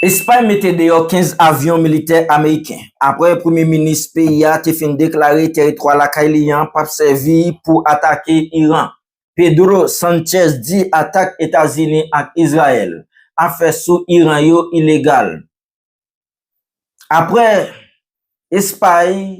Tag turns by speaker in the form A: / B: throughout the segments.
A: Espay mete deyò 15 avyon militè ameriken, apre premye minis peyi a te fin deklare teritwa lakay li an pap sèvi pou atake Iran. Pedro Sanchez di atak Etazini ak Izrayèl ap fè sou Iran yo ilegal. Apre Espay.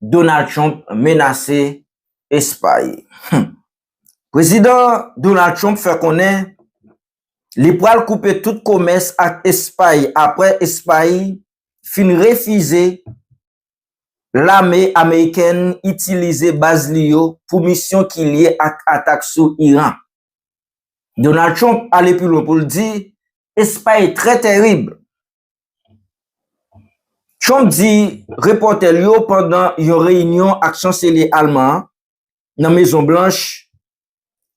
A: Donald Trump menase Espay Humm Prezidan Donald Trump fè konnen li pral koupe tout komès ak Espay apre Espay fin refize lame amerikèn itilize baz li yo pou misyon ki lye ak atak sou Iran. Donald Trump ale pi lwen pou l di Espay trè tèrib. Trump di repòtè l yo pandan yon reyinyon ak chanselye alman an nan Mezon Blanch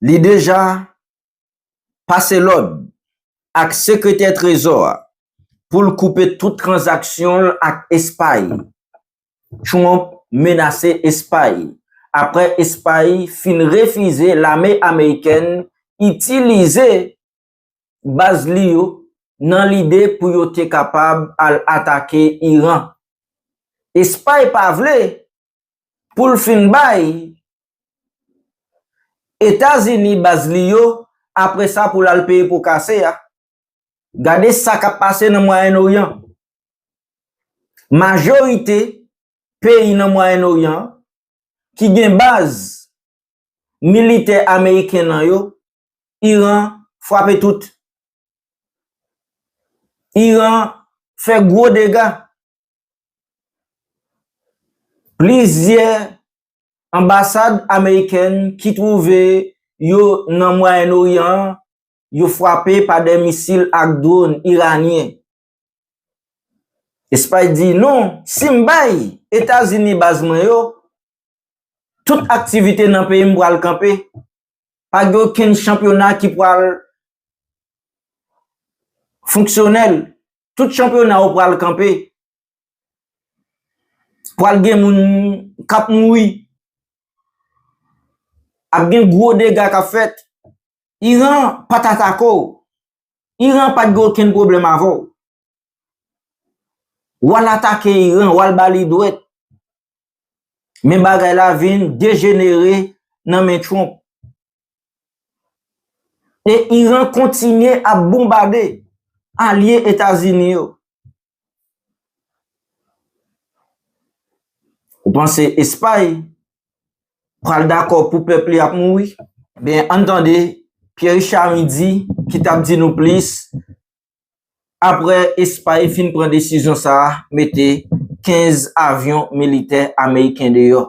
A: li deja pase lòd ak sekretè trezò a pou l koupe tout tranzaksyon l ak Espay. Trump menase Espay apre Espay fin refize lame amerikèn itilize baz li yo nan lide pou yo te kapab al atake Iran. Espay pa vle pou l fin bay Etazini baz li yo apre sa pou l al peye po kase a. Gade sa k ap pase nan Mwayen Oryan. Majorite peyi nan Mwayen Oryan ki gen baz militè ameriken nan yo Iran fwape tout. Iran fè gwo dega. Plizyè anbasad amerikèn ki twouve yo nan Mwayen Oryan an, yo fwape pa de misil ak dron iranyen. Espay di non, si m bay Etazini baz mwen yo, tout aktivite nan peyi m pral kanpe. pa gen okenn chanpyona ki pral fonksyonèl, tout chanpyona yo pral kanpe, pral gen moun k ap mouri, ap gen gwo dega k ap fèt. Iran pa t atake w, Iran pa t gen okenn pwoblèm avè w. W al atake Iran, w al ba li dwèt. Men bagay la vin dejenere nan men Trump. E Iran kontinye ap bonbade alye Etazini yo. Ou panse Espay pral dakò pou pèp li ap mouri? Ben, ann tande, Pierre Richard Midy ki t ap di nou plis apre Espay fin pran desizyon sa a mete 15 avyon militè ameriken deyò.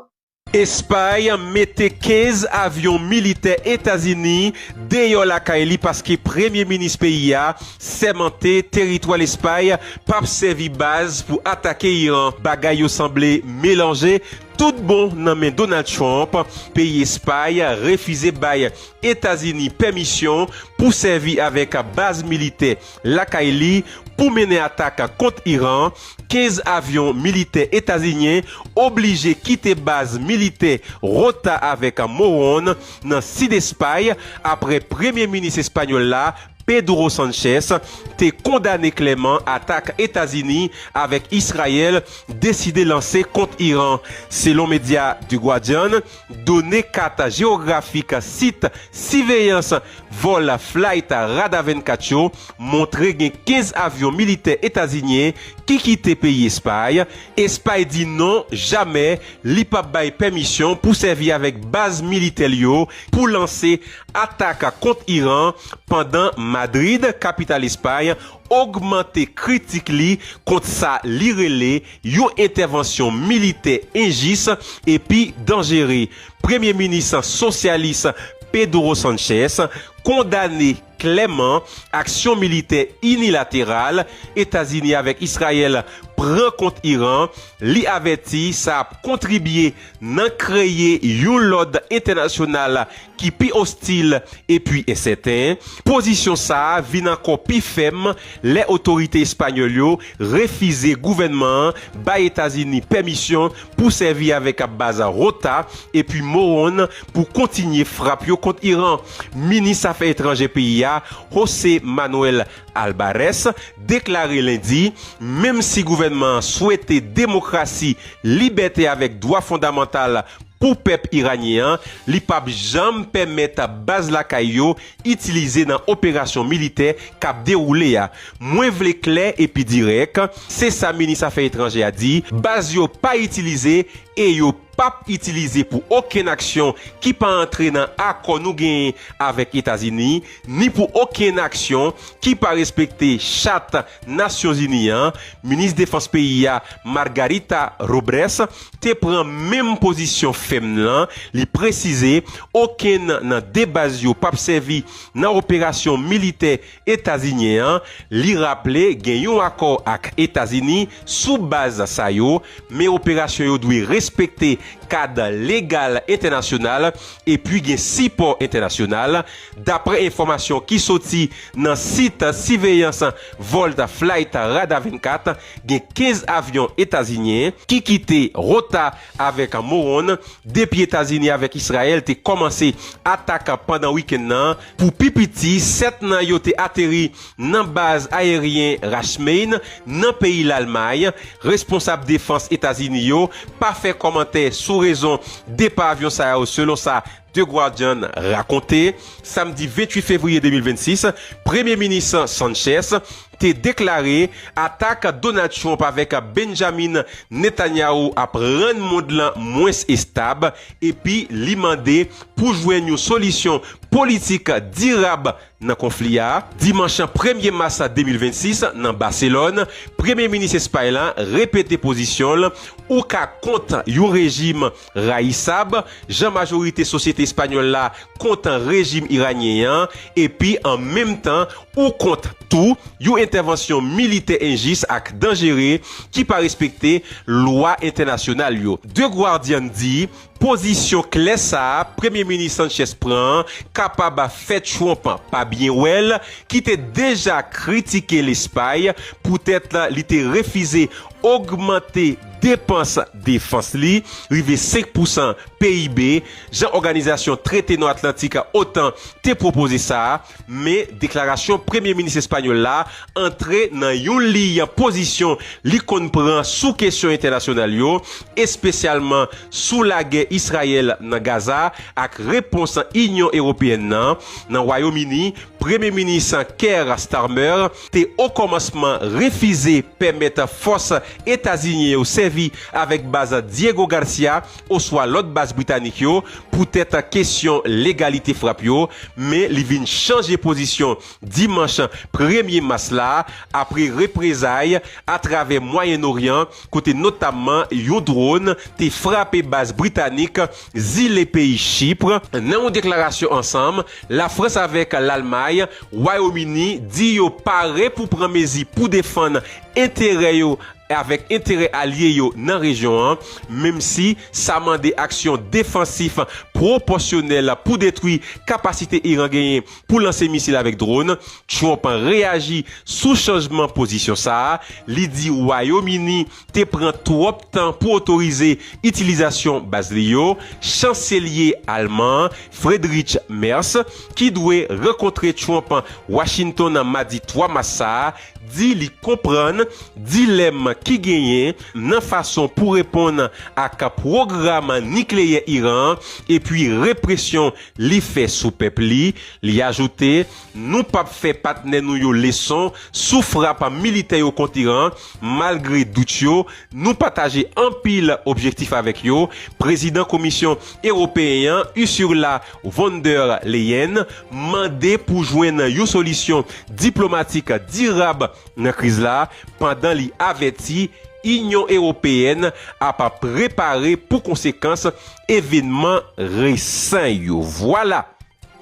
A: Espay
B: mete 15 avyon militè Etazini deyò lakay li paske premye minis peyi a sèmante teritwa Lespay p ap sèvi baz pou atake Iran. Bagay yo sanble melanje tout bon nan men Donald Trump, peyi Espay refize bay Etazini pèmisyon pou sèvi avèk baz militè lakay li pou mennen atak kont Iran, 15 avyon militè etazinyen oblije kite baz militè Rota avèk Moron nan sid Espay apre premye minis espanyòl la, Pedro Sanchez, te kondane klèman atak Etazini avèk Israel deside lanse kont Iran, selon medya The Guardian. Done kat jewografik sit siveyans vòl Flight Radar 24 yo montre gen 15 avyon militè etazinyen ki kite peyi Espay. Espay di non jamè li pap bay pèmisyon pou sèvi avèk baz militè l yo pou lanse atak kont Iran pandan Madrid, kapital Espay, ogmante kritik li kont sa li rele yon entèvansyon militè enjis epi danjere, Premye Minis sosyalis Pedro Sanchez kondane klèman aksyon militè inilateral Etazini avèk Israel pran kont Iran, li avèti sa ap kontribye nan kreye yon lòd entènasyonal ki pi ostil epi ensèten, pozisyon sa a vin ankò pi fèm lè otorite espanyòl yo refize gouvènman an bay Etazini pèmisyon pou sèvi avèk ap baz Rota epi Moron pou kontinye frap yo kont Iran. Minis afè etranjè peyi a, José Manuel Albares deklare lendi menm si gouvènman an swete demokrasi, libète avèk dwa fondamantal pou pèp iranyen an, li p ap janm pèmèt baz lakay yo itilize nan operasyon militè k ap dewoule a. Mwen vle klè epi dirèk, se sa minis afè etranjè a di, baz yo pa itilize e yo p ap itilize pou okenn aksyon ki pa antre nan akò nou genyen avèk Etazini, ni pou okenn aksyon ki pa respekte chat Nasyonzini an, minis defans peyi a, Margarita Robrès, te pran menm pozisyon fèm lan, li presize okenn nan 2 baz yo pap sèvi nan operasyon militè etazinyen an, li raple gen yon akò ak Etazini sou baz sa yo, men operasyon yo dwe respekte kad legal entènasyonal epi gen sipò entènasyonal. Daprè enfòmasyon ki soti nan sit siveyans vòl Flight Radar 24, gen 15 avyon etazinyen ki kite Rota avèk Moron depi Etazini avèk Israel te kòmanse atak pandan wikenn nan. Pou pi piti, 7 nan yo te ateri nan baz ayeryen Rachmain nan peyi Lalmay. Responsab defans Etazini yo pa fè kòmantè sou rezon depa avyon sa yo selon sa The Guardian rakonte, samdi 28 fevriye 2026, Premye Minis Sanchez te deklare atak Donald Trump avèk Benjamin Netanyahu ap rann mond lan mwens estab epi li mande pou jwenn yon solisyon politik dirab nan konfli a. Dimanch premye mas 2026, nan Baselòn, Premye Minis Espay lan repete pozisyon l, Ou ka kont yon rejim Rayisab, jan majorite sosyete espanyòl la kontan rejim iranyen an, epi an menm tan ou kont tou yon entèvansyon militè enjis ak danjere ki pa respekte lwa entènasyonal yo. The Guardian di, Pozisyon klè sa a Premye Minis Sanchez pran an kapab fè Trump pa byen wè l, ki te deja kritike Lespay poutèt li te refize ogmante depans defans li rive 5 pousan PIB, jan Òganizasyon Trete Nò Atlantik, otan, te pwopoze sa, men deklarasyon Premye Minis espanyòl la antre nan yon liy pozisyon li konn pran sou kesyon entènasyonal yo, espesyalman sou lagè Israyèl nan Gaza ak repons Inyon Ewopeyèn nan. Nan Wayom Ini, Premye Minis Keir Starmer. te okòmansman refize pèmèt fòs etazinyen yo sèvi avèk baz Diego Garcia oswa lòt baz britanik yo poutèt kesyon legalite frap yo, men li vin chanje pozisyon dimanch premye mas la apre reprezay atravè Mwayen Oryan kote notamman yon dron te frape baz britanik zile peyi Chypre. Nan yon deklarasyon ansanm, Lafrans avèk Lalmay, Wayomini di yo pare pou pran mezi pou defann enterè yo avèk enterè alye yo nan rejyon an, menm si sa mande aksyon defansif pwopòsyonèl pou detwi kapasite Iran genyen pou lanse misil avèk dron. Trump reyaji sou chanjman pozisyon sa a, li di Wayomini te pran twòp tan pou otorize itilizasyon baz li yo, chanselye alman an, Friedrich Merz, ki dwe rankontre Trump Washington nan madi 3 mas sa a, di li konprann dilèm ki genyen nan fason pou reponn ak pwogram nikleyè Iran an epi represyon li fè sou pèp li. Li ajoute Nou pa p fè patnè nou yo leson sou frap militè yo kont Iran, malgre dout yo, nou pataje anpil objektif avèk yo, Prezidan Komisyon Ewopeyen an, Ursula von der Leyen, mande pou jwenn yon solisyon diplomatik dirab nan kriz la, pandan li avèti Inyon Ewopeyèn ap prepare pou konsekans evenman resan yo. Vwala!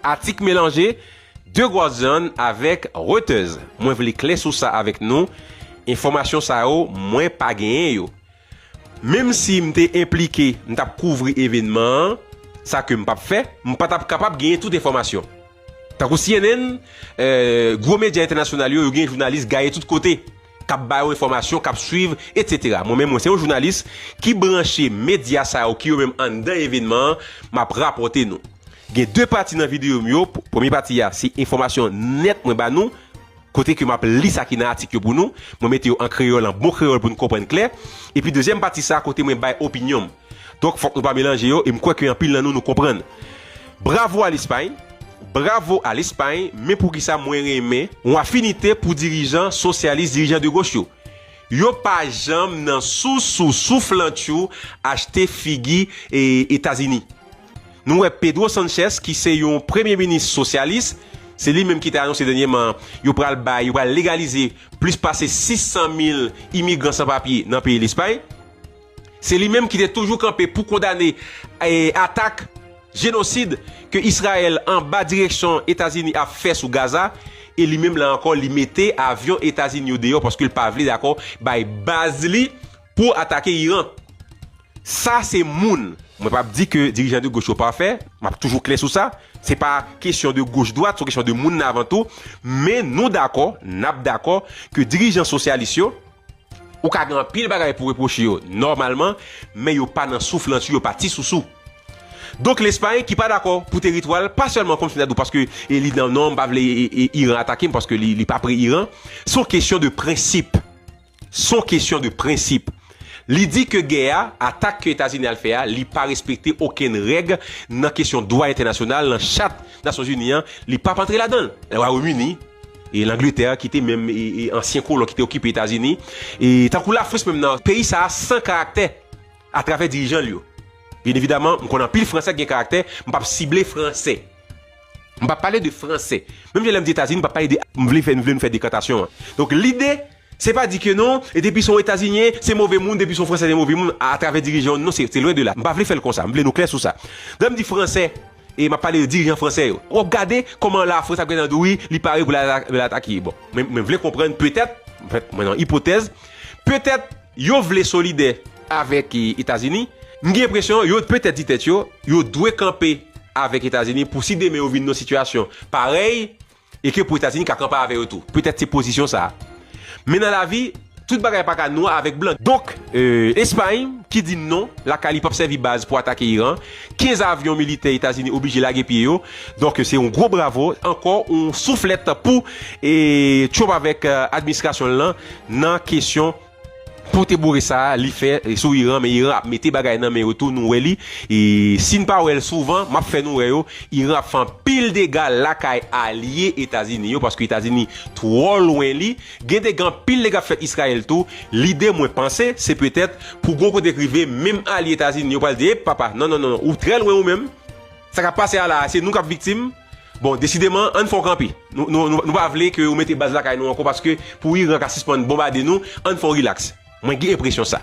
B: Atik melanje, De Guardian avèk Reuters. Mwen vle klè sou sa avèk nou, enfòmasyon sa yo mwen pa genyen yo. Menm si m te enplike, m t ap kouvri evènman an, sa ke m p ap fè, m pa t ap kapab genyen tout enfòmasyon. Tankou cnn, gwo medya entènasyonal yo, yo gen jounalis gaye tout kote, k ap ba yo enfòmasyon, k ap swiv, etsetera. Mwen menm mwen se yon jounalis ki branche medya sa yo ki yo menm anndan evènman an, m ap rapòte nou. Gen 2 pati nan videyo m yo, premye pati a se enfòmasyon nèt mwen ba nou, kote ke m ap li sa ki nan atik yo pou nou, mwen mete yo an kreyòl, an bon kreyòl pou nou konprann klè, epi dezyèm pati sa kote mwen bay opinyon m. Donk fòk nou pa melanje yo e m kwè ke anpil nan nou nou konprann. Bravo a Lespay! Bravo a Lespay! Men poukisa mwen renmen yon afinite pou dirijan sosyalis, dirijan de goch yo? Yo pa janm nan sousou souflantchou achte figi Etazini. Nou wè Pedro Sanchez ki se yon premye minis sosyalis, se li menm ki te anonse dènyeman yo pral bay, yo pral legalize plis pase 600 mil imigran san papye nan peyi Lespay. Se li menm ki te toujou kanpe pou kondane atak jenosid ke Israel anba direksyon Etazini ap fè sou Gaza e li menm la ankò li mete avyon Etazini yo deyò paske li pa vle dakò bay baz li Pou atake Iran. Sa se moun. Mwen pap di ke dirijan de goch yo pafè, map toujou klè sou sa, se pa kesyon de goch dwat, son kesyon de moun nan avan tou, men nou dakò, nap dakò ke dirijan sosyalis yo, ou ka gen anpil bagay pou repwoche yo nòmalman, men yo pa nan souflantyou, yo pa ti sousou. Donk Lespay ki pa dakò pou teritwa l, pa sèlman kòm si ta di w paske li nan non m pa vle Iran atake m paske li pa pre Iran, son kesyon de prensip. Son kesyon de prensip. Li di ke gè a, atak ke Etazini al fè a, li pa respekte okenn règ nan kesyon dwa entènasyonal, nan chat Nasyonzini an, li pap antre ladan l. Wayomini, e Langletè, ki te menm ansyen kolon ki te okipe Etazini, e tankou Lafrans menm nan, peyi sa a san karaktè atravè dirijan l yo. Byen evidaman, m konnen anpil Fransè ki gen karaktè, m pap sible Fransè. M pa pale de franse. Menm jan lè m di Etazini, m pa pale de. M vle fè, m vle nou fè dekantasyon an. Donk lide, se pa di ke non, e depi se yon Etazinyen, se move moun, depi se yon Fransè se move moun, a travè dirijan yo, non se, se lwen de la. M pa vle fè l konsa. M vle nou klè sou sa. Lè m di Fransè, e m ap pale de dirijan Fransè yo. W ap gade kòman Lafrans ap gade nan dou wi, li pare pou l al atake. Bon, mwen vle konprann, petèt, mwen fè, mwen nan ipotèz, petèt. Yo vle solidè avèk Etazini. M gen enpresyon yo petèt di tèt yo, yo dwe kanpe avèk Etazini pou si demen yo vin nan yon sitiyasyon parèy e ke pou Etazini ka kanpe avè yo tou. Petèt se pozisyon sa a. Men nan lavi, tout bagay pa ka nwa avèk blan. Donk, Espay ki di non, lakay li p ap sèvi baz pou atake Iran. 15 avyon militè Etazini oblije lage pye yo. Donk, se yon gwo bravo, ankò yon souflèt pou Trump avèk administrasyon l lan. Nan kesyon pote boure sa a li fè sou Iran men Iran ap mete bagay nan men yo tou nou wè li e si n pa wè l souvan map fè nou wè yo Iran ap fè anpil dega lakay alye Etazini yo paske Etazini twò lwen li gen dega anpil dega ap fèt Israel tou lide mwen panse se petèt pou gon kote k rive menm alye Etazini yo pral di ep papa non non non ou trè lwen ou menm sa kap pase a la a se nou kap viktim Bon, desideman, ann fè yon kanpe. Nou pa vle ke ou mete baz lakay nou ankò paske pou Iran ka sispann bonbade nou, ann fè yon rilaks. Mwen gen enpresyon sa.